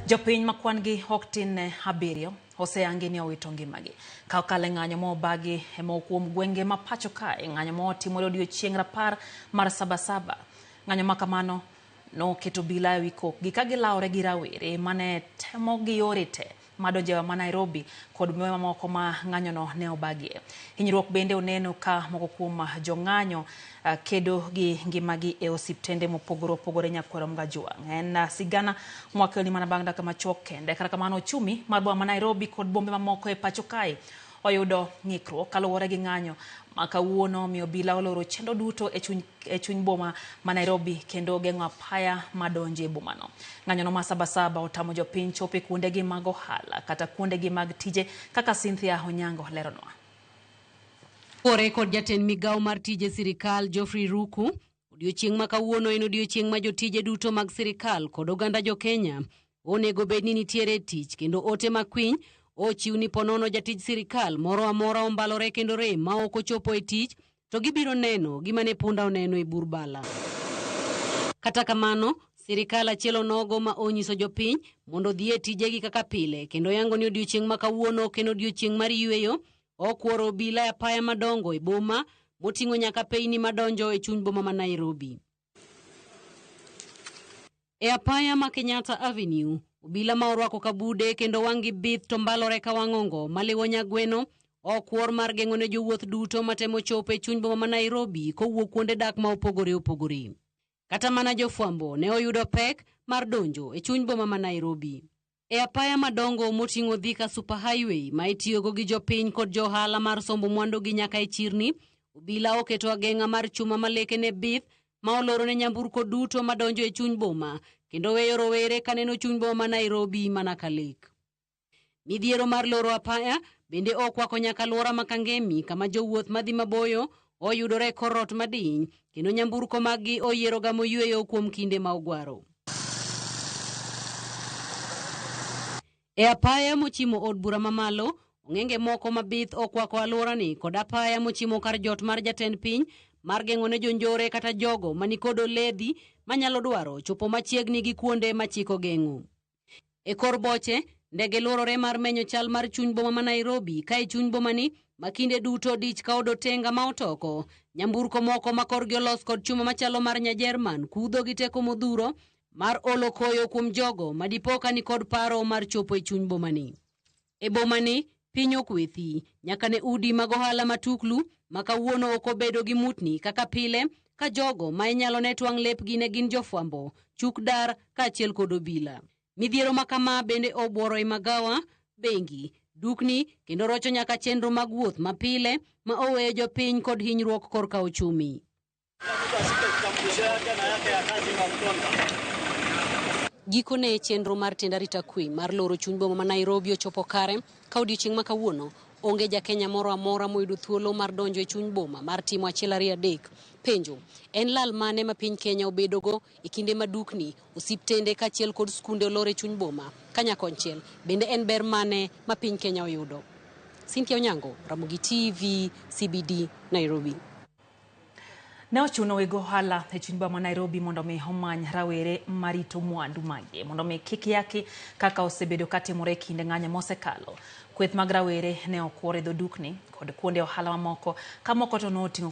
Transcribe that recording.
Jopiny ma kwan-gi ok tin ne abiriyo oseyangi ni owito ngimagi. Ka okalo e ng'anyo ma obagi e moko kuom gwenge ma pacho kae, ng'anyo ma otimore odiechieng' rapar mar Sabasaba. Ng'anyo ma kamano noketo obila e wi kokgi ka gilawore gi rawere ma ne temo gi yore te madonjewa ma Nairobi kod bombe mamoko ma ng'anyono ne obagie. Hinyruok bende oneno ka moko kuom jong'anyo ah, kedo gi ngimagi e osiptende mopogore opogore nyakwero Mgajwang'. En ah, sigana mwakelni mana bang' dakika machuok kende. Kata kamano ochumi mar boma ma Nairobi kod bombe mamoko e pacho kae oyudo ng'ikruok kaluwore gi ng'anyo ma kawuono omiyo obila oloro chenro duto e chuny, e chuny boma ma Nairobi kendo geng'o apaya ma donjo e bomano. Ng'anyono ma Sabasaba otamo jopiny chopo e kuondegi mag ohala kata kuondegi mag tije kaka Cynthia Onyango leronwa. Kore kod jatend migawo mar tije sirikal Geoffrey Ruku, odiochieng' ma kawuono en odiochieng' ma jotije duto mag sirikal kod oganda jo Kenya Onego bed ni nitiere tich kendo ote makwiny ochiw ni ponono jatij sirikal moro amora ombalore kendo rem ma ok ochopo e tich to gibiro neno gima ne punda oneno e bur bala. Kata kamano, sirikal achiel onogo ma onyiso jopiny mondo odhi e tijegi kaka pile kendo yango ni odiochieng' ma kawuono ok en odiochieng' mar yueyo, okworo obila e apaya madongo e boma moting'o nyaka peyni madonjo e chuny boma ma Nairobi. E apaya ma Kenyatta Avenue, obila ma orwako kabude kendo wang'gi bith to mbalore ka wang'ongo maliwo nyagweno okwor mar geng'o ne jowuoth duto matemo chopo e chuny boma ma Nairobi kowuok kuonde dak ma opogore opogore. Kata mana jofwambo ne oyudo pek mar donjo e chuny boma ma Nairobi. E apaya madongo moting'o Thika Super Highway ma itiyogo gi jopiny kod jo ohala mar sombo mwandugi nyaka e chirni, obila oketo ageng'a mar chuma ma lekene bith ma oloro ne nyamburko duto madonjo e chuny boma kendo weyo rowere ka neno chuny boma ma Nairobi mana ka lek. Midhiero mar loro apaya bende okwako nyaka alwora ma Kangemi kama jowuoth madhi maboyo Oyudore e kor ot madiny, kendo nyamburko maggi oyieroga moyueyo kuom kinde ma ogwaro. E apaya mochimo od bura mamalo, ong'enge moko mabith okwako alworani kod apaya mochimo kar jot mar jatend piny mar geng'o ne jonjore kata jogo manikod oledhi manyalo dwaro chopo machiegni gi kuonde machik ogeng'o. E kor boche, ndege lworore mar menyo chal mar chuny boma ma Nairobi ka e chuny bomani ma kinde duto dich ka odotenga ma otoko. Nyamburko moko ma korgi olos kod chuma machalo mar Nyajerman kudho gi teko modhuro mar olo koyo kuom jogo ma dipo ka nikod paro mar chopo e chuny bomani. E bomani, piny ok we thi, nyaka ne udi mag ohala matuklu ma kawuono ok obedo gi mutni kaka pile, ka jogo ma inyalo ne twang' lepgi ne gin jofwambo, chuk dar, kaachiel kod obila. Midhiero ma kama bende obworo i magawa, bengi, dukni, kendo rocho nyaka chenro mag wuoth mapile ma oweyo jopiny kod hinyruok korka ochumi. Gikone chenro mar tend arita kwe mar loro chuny boma ma Nairobi ochopo kare ka odiechieng' ma kawuono onge jakenya moro amora moyudo thuolo mar donjo e chuny boma mar timo achiel ariyo adek. Penjo, en lal mane ma piny Kenya obedogo e kinde ma dukni, osiptende kaachiel kod skunde olor e chuny boma? Kanyakonchiel, bende en ber mane ma piny Kenya oyudo? Cynthia Onyango, Ramogi TV, CBD, Nairobi. Ne ochuno weg ohala e chuny boma ma Nairobi mondo omi omany rawere marito mwandu magi mondo omi kik yaki kaka osebedo katimore e kinde ng'anyo mosekalo. Kweth mag rawere ne okwor e dho dukni kod kuonde ohala mamoko ka moko to noting'o